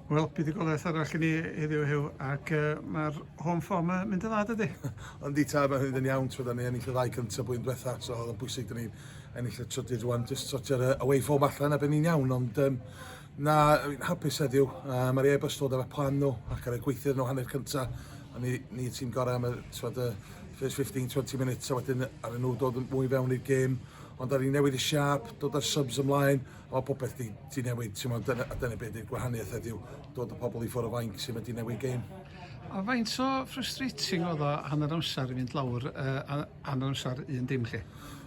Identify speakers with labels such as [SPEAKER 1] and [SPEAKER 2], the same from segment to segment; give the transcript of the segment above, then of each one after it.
[SPEAKER 1] Wel, buddugoliaeth arall i ni heddiw hew, ac uh, mae'r home form yn mynd yn dda, dydy? Ond di ta, mae'n
[SPEAKER 2] mynd yn iawn, tro da ni ennill y ddau cynt o blwyddyn diwetha, so oedd yn bwysig da ni'n ennill y trydydd rwan, jyst sortio'r uh, away form allan a byn ni'n iawn, ond um, na, hapus heddiw, uh, mae'r e bus dod efo'r plan nhw, ac ar y gweithio nhw hanner cynta, a ni, ni ti'n gorau am y, twad, y first 15-20 minutes, a wedyn ar y nhw dod yn mwy fewn i'r gêm, ond ar ni'n newid y siap, dod â'r subs ymlaen, mae popeth di, di newid, ti'n meddwl, dyna, a dyna beth ydy'r gwahaniaeth ydyw dod y pobl i ffwrdd o fainc sy'n mynd i newid gêm. A faint o
[SPEAKER 1] frustrating oedd o hanner amser i fynd lawr, uh, hanner amser un dim chi?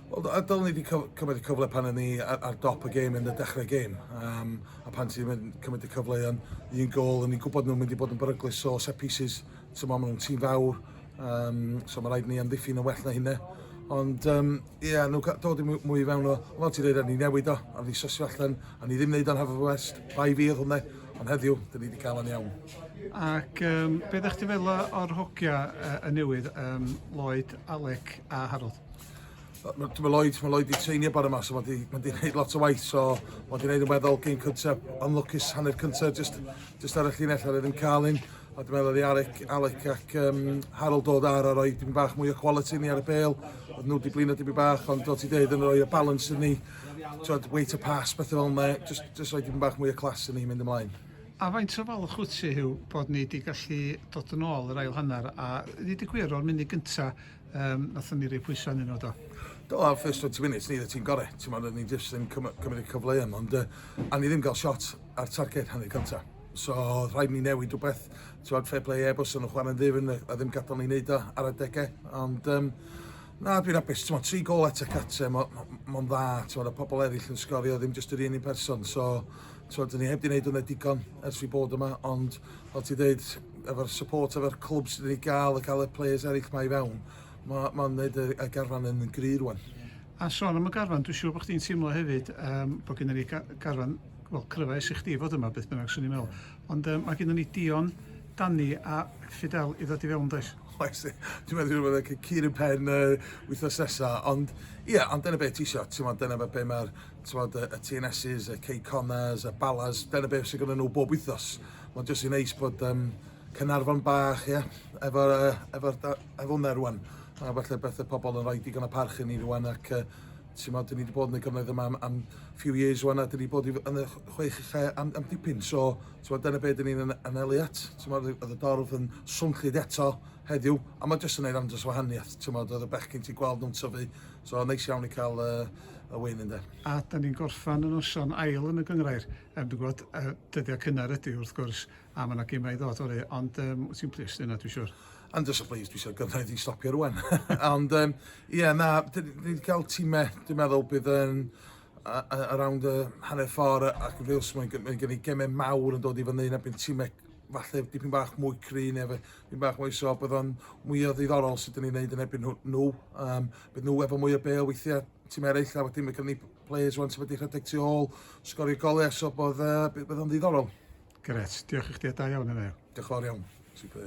[SPEAKER 1] Oedd a dylwn ni wedi
[SPEAKER 2] cymryd y cyfle pan o'n ni ar, ar dop y gêm yn y dechrau gêm. Um, a pan ti'n mynd cymryd y cyfle yn un gol, o'n i'n gwybod nhw'n mynd i bod yn beryglus o set pieces, ti'n meddwl, maen nhw'n tîm fawr, um, so mae rhaid ni amddiffyn yn well na hynna. Ond um, Ie, yeah, nhw'n cael dod i mwy i fewn o, fel ti'n dweud, ni newid o, a ni sosio allan, a ni ddim wneud o'n hafaf west, bai fi oedd hwnna, ond heddiw, dyn ni wedi cael o'n iawn. Ac um,
[SPEAKER 1] beth ydych chi fel o'r hogia uh, y newydd, um, Lloyd, Alec a Harold? Mae
[SPEAKER 2] Lloyd, mae Lloyd wedi treinio bore yma, so mae wedi gwneud lot o waith, so mae wedi gwneud yn weddol gyn cyntaf, ond lwcus hanner cyntaf, just, just ar y llinell, a ddim cael un. A dwi'n meddwl oedd Alec, Alec ac um, Harold dod ar a roi dim bach mwy o quality ni ar y bel. Oedd nhw wedi blino dim bach, ond dod ti dweud yn rhoi y balance yn ni. Twyd, wait a pass, beth fel yna. Just, just roi dim bach mwy o clas yn ni mynd ymlaen. A faint o falch
[SPEAKER 1] wyt ti, Hugh, bod ni wedi gallu dod yn ôl yr ail hanner a ddweud y gwir o'r munud gyntaf um, nathon ni rei pwysau yn nhw do? Do, ar first 20
[SPEAKER 2] minutes ni oedd ti'n gorau. Ti'n meddwl, ni jyst yn cymryd y cyfleoedd, ond uh, a ni ddim gael shot ar targed hanner cyntaf. So oedd rhaid ni newid rhywbeth. Ti'n fair play e, bos o'n chwarae'n ddifn a ddim gadael ni wneud o ar adegau. Ond um, na, dwi'n apus. Ti'n tri gol at y catre, mae'n ma, ma dda. Ti'n y pobl eraill yn sgorio, ddim jyst yr un un person. So, ti'n dyn ni heb di wneud hwnna digon ers fi bod yma. Ond, fel ti dweud, efo'r support, efo'r clwb sydd wedi gael, y cael y players eraill mae i fewn, mae'n ma gwneud y, y garfan yn gry rwan. A son am y
[SPEAKER 1] garfan, dwi'n siŵr bod chdi'n teimlo hefyd um, bod gen i garfan Wel, clywais i chdi fod yma beth bynnag, swn i'n meddwl. Ond um, mae gennym ni Dion, Danny a Fidel i ddod i fewn, does? Oes, dwi'n
[SPEAKER 2] meddwl bod y cur yn pen uh, wythnos nesa, ond ie, yeah, ond dyna beth ti eisiau, ti'n meddwl, dyna beth be mae'r y, y TNSs, y K-Connors, y Balas, dyna beth sy'n gyda nhw bob wythnos. Mae'n jyst i'n neis bod um, Cynarfon bach, ie, yeah, efo'r uh, efo, efo hwnna rwan. A falle beth y pobl yn rhoi digon o parch i ni rwan ac uh, T'mod dyn ni 'di bod yn y gymoedd yma am am few years ŵan a dyn ni bod i yn y chwech ucha am am dipyn so t'mod dyna be' dyn ni'n yn anelu at t'mod o'dd y dorf yn swnllyd eto heddiw a ma' jyst yn neud andros o wahaniath t'mod o'dd y bechgyn ti'n gweld nhw'n tyfu so neis iawn i ca'l yy y wyn ynde? A da ni'n gorffan
[SPEAKER 1] y noson ail yn y gynghrair, yym dwi'n gwbod yy dyddia cynnar ydi wrth gwrs, A ma' 'na gema i ddod fory ond yym wyt ti'n plis neud 'na dwi siŵr. I'm just a pleased dwi isio
[SPEAKER 2] gyfraith i stopio rŵan. Ond yym ie na d- ni 'di ca'l time dwi'n meddwl bydd yn a- a- around y hanner ffor a- ac yn Wales mae'n g- mae gen i geme mawr yn dod i fyny na bydd time falle dipyn bach mwy cry ne' fe- dipyn bach mwy so bydd o'n mwy o ddiddorol sut 'dyn ni'n neud yn erbyn nhw nhw yym bydd nhw efo mwy o bêl weithie time ereill a wedyn ma' gynno ni players rwan sydd wedi rhedeg tu ôl, sgorio golau, so bod,
[SPEAKER 1] uh, bydd
[SPEAKER 2] o'n
[SPEAKER 1] ddiddorol. Gret, diolch
[SPEAKER 2] i chdi
[SPEAKER 1] a da iawn yna.
[SPEAKER 2] Diolch
[SPEAKER 1] fawr iawn, super.